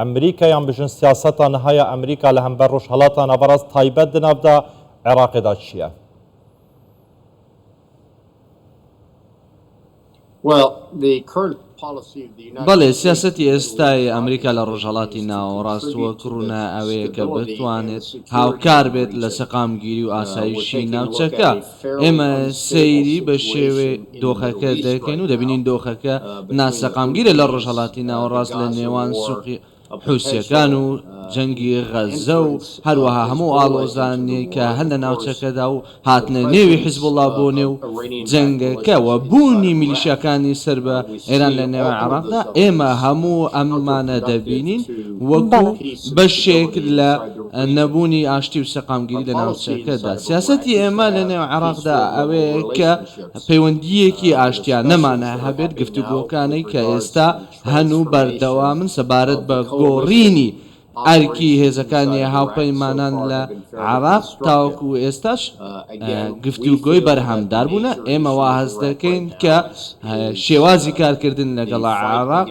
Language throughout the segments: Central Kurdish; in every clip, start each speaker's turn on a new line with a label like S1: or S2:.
S1: ئەمریکا یان بژن سیاسەتا نهایا ئەمریکا لە هەمبەر ڕوژهەلاتا ناڤەڕاست تایبەت دە ناڤدا عێڕاقێدا چیە؟
S2: بەڵێ سیاسەتی ئێستای ئەمریکا لە ڕۆژهەڵاتی ناوەڕاست وەک ڕوونە ئەوەیە کە بتوانێت هاوکار بێت لە سەقامگیری و ئاسایشی ناوچەکە، ئێمە سەیری بە شێوەی دۆخەکە دەکەین و دەبینین دۆخەکە ناسەقامگیرە لە ڕۆژهەڵاتی ناوەڕاست لە نێوان سووقی حوسییەکان و جەنگی غەززە و هەروەها هەموو ئاڵۆزانێک کە هەن لە ناوچەکەدا و هاتنە نێوی حیزبوڵڵا بۆ نێو جەنگەکە و بوونی میلیشیاکانی سەر بە ئێران لە نێوان عێراقدا ئێمە هەموو ئەمانە دەبینین وەکو بەشێک لە نەبوونی ئاشتی و سەقامگیری لە ناوچەکەدا. سیاسەتی ئێمە لە نێو عێراقدا ئەوەیە کە پەیوەندییەکی ئاشتیانەمان هەبێت، گفتوگۆکانەی کە ئێستا هەن و بەردەوامن سەبارەت بە گۆڕینی ئەرکی هێزەکانی هاوپەیمانان لە عێراق تاوەکو ئێستاش گفتوگۆی بەرهەمدار بوونە، ئێمە وا هەست دەکەین کە شێوازی کارکردن لەگەڵ عێراق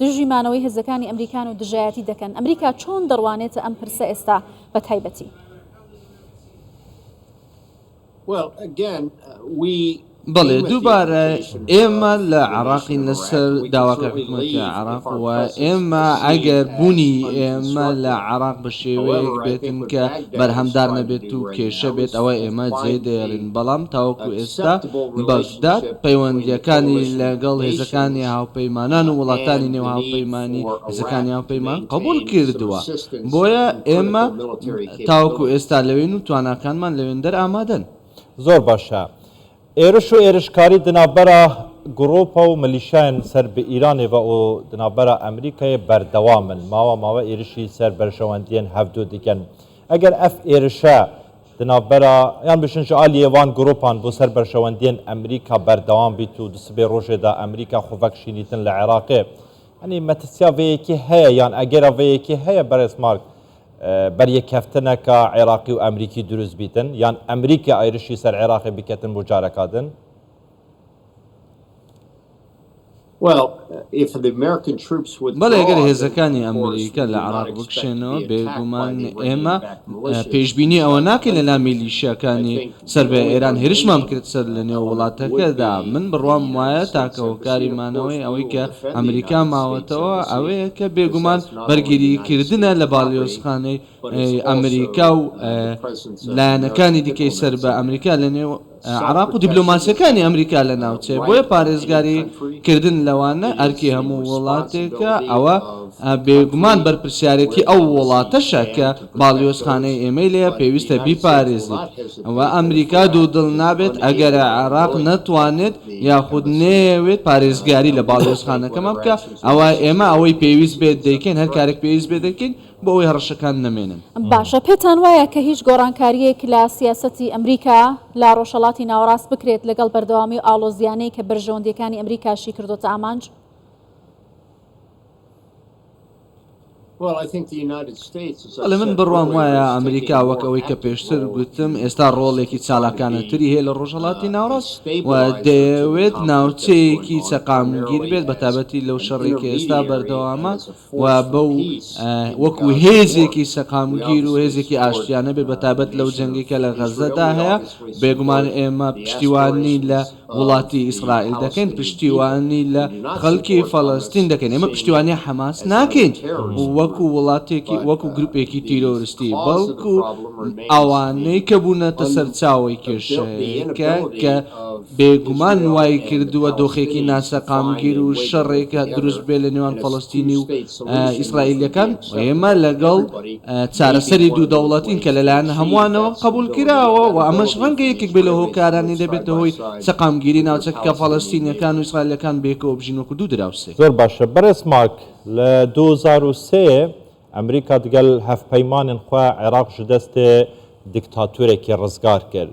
S3: دژی مانەوەی هێزەکانی ئەمریکان و دژایەتی دەکەن، ئەمریکا چۆن دەڕوانێتە ئەم پرسە ئێستا بەتایبەتی؟
S2: بەڵێ، دووبارە ئێمە لە عێراقین لەسەر داواکە حکومەتی عێراق و ئێمە ئەگەر بوونی ئێمە لە عێراق بە شێوەیەک بێت کە بەرهەمدار نەبێت و کێشە بێت ئەوا ئێمە جێدێڵین، بەڵام تاوەکو ئێستا بە دا، پەیوەندییەکانی لەگەڵ هێزەکانی هاوپەیمانان و وڵاتانی نێو هاوپەیمانی هێزەکانی هاوپەیمان قبوڵ کردووە، بۆیە ئێمە تاوەکو ئێستا لەوێین و تواناکانمان لەوێندەر ئامادەن. زۆر باشە.
S1: ئێرش و ئێرشکاری دنابەرا گڕوپە و ملیشایان سەر بە ئیرانێ ڤە ئۆ دنابەرا ئەمریکایێ بەردەوامن. ماوە ماوە ئێرشی سەر بەرژەوەندیێن هەڤدو دگەن. ئەگەر ئەف ئێرشە دناڤبەرا یان بشن ژە ئالی ئێوان گروپان بۆ سەر بەرژەوەندیەن ئەمریکا بەردەوام بیت و دسبێ رۆژێ دا ئەمریکا خوڤەک شینیتن لە عێراقێ یانی مەترسیا ڤە یەکێ هەیە یان ئەگەرا ڤە یەکێ هەیە بەرێز مارک بەر یەککەفتنەکا عێراقی و ئەمریکی دروست بیتن یان ئەمریکا ئێرشی سەر عێراقێ بکەتن بۆ جارەکا دن؟
S2: بەڵێ گەر هێزەکانی ئەمریکا لە عێراق بکشێنەوە بێگومان ئێمە پێشبینی ئەوە ناکەین لەلا میلیشیاکانی سەر بە ئێران هێرشمان بکرێت سەر لە نێو وڵاتەکەدا من بڕوام وایە تاکە هۆکاری مانەوەی ئەوەی کە ئەمریکا ماوەتەوە ئەوەیە کە بێگومان بەرگری کردنە لە باڵیۆزخانەی ئەمریکا و لایەنەکانی دیکەی سەر بە ئەمریکا لە نێو عێراق و دیبلۆماسیەکانی ئەمریکا لە ناوچەیە بۆیە پارێزگاری کردن لەوانە ئەرکی هەموو وڵاتێکە ئەوە بێگومان بەرپرسیارێتی ئەو وڵاتەشە کە باڵیۆزخانەی ئێمەی لێیە پێویستە بیپارێزیت وە ئەمریکا دوو دڵ نابێت ئەگەر عێراق نەتوانێت یاخود نەیەوێت پارێزگاری لە باڵیۆزخانەکەمان بکا ئەوە ئێمە ئەوەی پێویست بێت دەیکەین هەر کارێک پێویست بێت دەکەین بۆ ئەوەی هەڕەشەکان نەمێنن. باشە پێتان
S3: وایە کە هیچ گۆڕانکارییەک لە سیاسەتی ئەمریکا لە ڕۆژهەڵاتی ناوەڕاست بکرێت لەگەڵ بەردەوامی و ئاڵۆزییانەی کە بەرژەوەندییەکانی ئەمریکاشی کردۆتە ئامانج؟
S2: بەڵێ من بڕوام وایە ئەمریکا وەک ئەوەی کە پێشتر گوتم ئێستا ڕۆڵێکی چالاکانەتری هەیە لە ڕۆژهەڵاتی ناوەڕاست و دەیەوێت ناوچەیەکی سەقامگیر بێت بەتابەتی لەو شەڕەی کە ئێستا بەردەوامە و بەو وەکو هێزێکی سەقامگیر و هێزێکی ئاشتیانە بێت بەتایبەت لەو جەنگەی کە لە غەزەدا هەیە، بێگومان ئێمە پشتیوانی لە وڵاتی ئیسرائیل دەکەین، پشتیوانی لە خەڵکی فەڵەستین دەکەین، ئێمە پشتیوانی حەماس ناکەین وەکو وڵاتێکی وەکو گروپێکی تیرۆرستی، بەڵکو ئەوانەی کە بوونەتە سەرچاوەی کێشەکە کە. بێگومان وایکردووە دۆخێکی ناسەقامگیر و شەڕێک دروست بێت لە نێوان فەڵەستینی و ئیسرائیلییەکان و ئێمە لەگەڵ چارەسەری دوو دەوڵەتین کە لەلایەن هەمووانەوە قبوڵکراوە و ئەمەش ڕەنگە یەکێک بێت لە هۆکارانی دەبێتە هۆی سەقامگیری ناوچەکە کە فەڵەستینییەکان و ئیسرائیلییەکان بەیەکەوە بژین وەکو دوو دراوسێ. زۆر باشە بەرێز
S1: ماک لە دوو هەزار و سێ ئەمریکا دگەل هەڤپەیمانن خوە عێراق ژدەستێ دکتاتورەکی ڕزگار کرد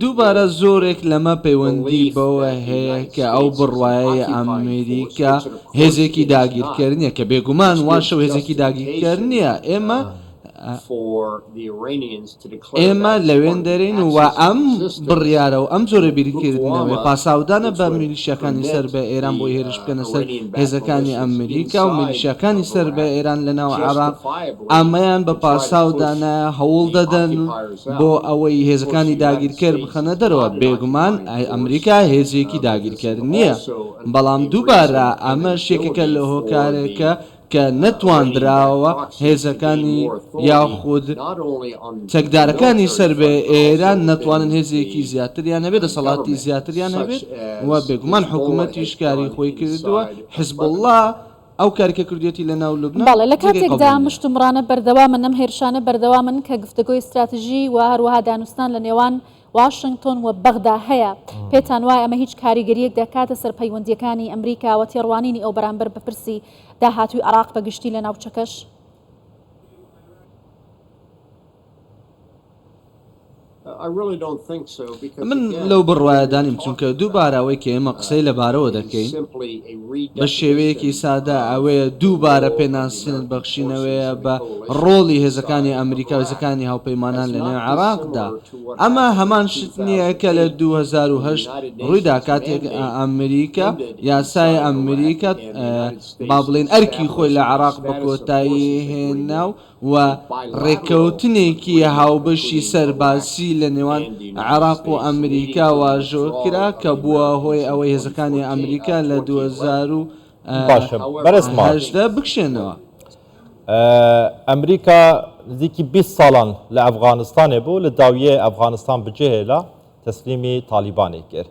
S2: دووبارە زۆرێک لەمە پەیوەندی بەوە هەیە کە ئەو بڕوایەیە ئەمریکا هێزێکی داگیرکەر نییە کە بێگومان واشە و هێزێکی داگیرکەر نییە ئێمە ئێمە لەوێن دەرین و ئەم بڕیارە و ئەم جۆرە بیرکردنەوەی پاساودانە بە میلیشیەکانی سەر بە ئێران بۆی هێرش بکەنە سەر هێزەکانی ئەمریکا و میلیشیاکانی سەر بە ئێران لە ناو عێراق ئامەیان بە پاساو دانایە هەوڵ دەدەن بۆ ئەوەی هێزەکانی داگیرکەر بخەنە دەرەوە، بێگومان ئەمریکا هێزێکی داگیرکەر نییە، بەڵام دووبارە ئەمەش یەکێکە لە هۆکارێکە کە نەتواندراوە هێزەکانی یاخود چەکدارەکانی سەر بە ئێران نەتوانن هێزێکی زیاتریان هەبێت، دەسەڵاتی زیاتریان هەبێت. و بێگومان حکومەتیش کاری خۆی کردووە، حزبوڵڵا ئەو کاری کە کردوویەتی لە ناو لوبنان بەڵێ لە جێگەی قبوڵ کاتێکدا نییە.
S3: مشتومڕانە بەردەوامن، ئەم هێرشانە بەردەوامن کە گفتەگۆی ستراتژی و هەروەها دانوستان لە نێوان واشنگتۆن و بەغدا هەیە، پێتان وایە ئەمە هیچ کاریگەرییەک دەکاتە سەر پەیوەندییەکانی ئەمریکا و تێڕوانینی ئەو بەرامبەر بە پرسی داهاتووی عێراق بە گشتی لە ناوچەکەش؟
S2: من لەو بڕوایەدا نیم چونکە دووبارە ئەوەی کە ئێمە قسەی لەبارەوە دەکەین بە شێوەیەکی سادە ئەوەیە دووبارە پێناسین بەخشینەوەیە بە ڕۆڵی هێزەکانی ئەمریکا وزەکانی هاوپەیمانان لە نێو عراقدا ئەمە هەمان شت نییە کە لە 2010 ڕوویدا کاتێک ئەمریکا یاسای ئەمریکا با بڵین ئەرکی خۆی لە عراق بە کۆتایی هێنا و و ڕێککەوتنێکی هاوبەشی سەربازی لە نێوان عێراق و ئەمریکا واژۆکرا کە بووە هۆی ئەوەی هێزەکانی ئەمریکا لە دوو هەزار و هەژدە بکشێنەوە.
S1: ئەمریکا نزیکی بیست ساڵان لە ئەفغانستانێ بوو لە داویێ ئەفغانستان بجێهێلا تەسلیمی تالیبانێ کرد.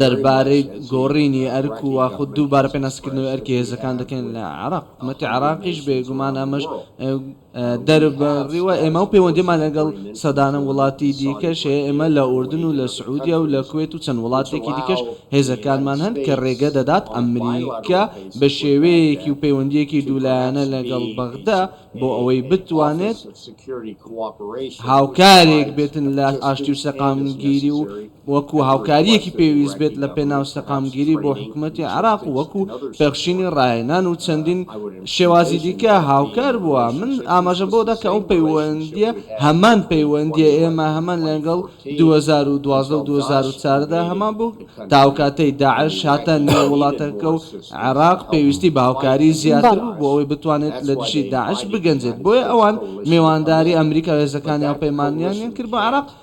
S2: دەربارەی گۆڕینی ئەرک و یاخود دووبارە پێناسەکردنەوەی ئەرکی هێزەکان دەکەین لە عێراق، حکومەتی عێراقیش بێ گومان ئەمەش دەربڕیوە، ئێمە پەیوەندیمان لەگەڵ سەدان وڵاتی دیکەش هەیە، ئێمە لە ئوردن و لە سعودیە و لە کوێت و چەند وڵاتێکی دیکەش هێزەکانمان هەن کە رێگە دەدات ئەمریکا بە شێوەیەکی و پەیوەندییەکی دوولایەنە لەگەڵ بەغدا بۆ ئەوەی بتوانێت هاوکارێک بێت لە ئاشتی و سەقامگیری و وەکو هاوکارییەکی پێویست بێت لە پێناو سەقامگیری بۆ حکومەتی عێراق و وەکو پێخشینی ڕاهێنان و چەندین شێوازی دیکە هاوکار بووە. من ئاماژەم بەوە دا کە ئەو پەیوەندییە هەمان پەیوەندییە ئێمە هەمان لەگەڵ دوو هەزار و دوازدە و دوو هەزار و چواردە دا هەمان بوو تا ئەو کاتەی داعش هاتە نێو وڵاتەکە و عێراق پێویستی بە هاوکاری زیاتر بوو بۆ ئەوەی بتوانێت لە دژی داعش بگەنجێت بۆیە ئەوان میوانداری ئەمریکا و هێزەکانی هاوپەیمانیانیان کرد بۆ عێراق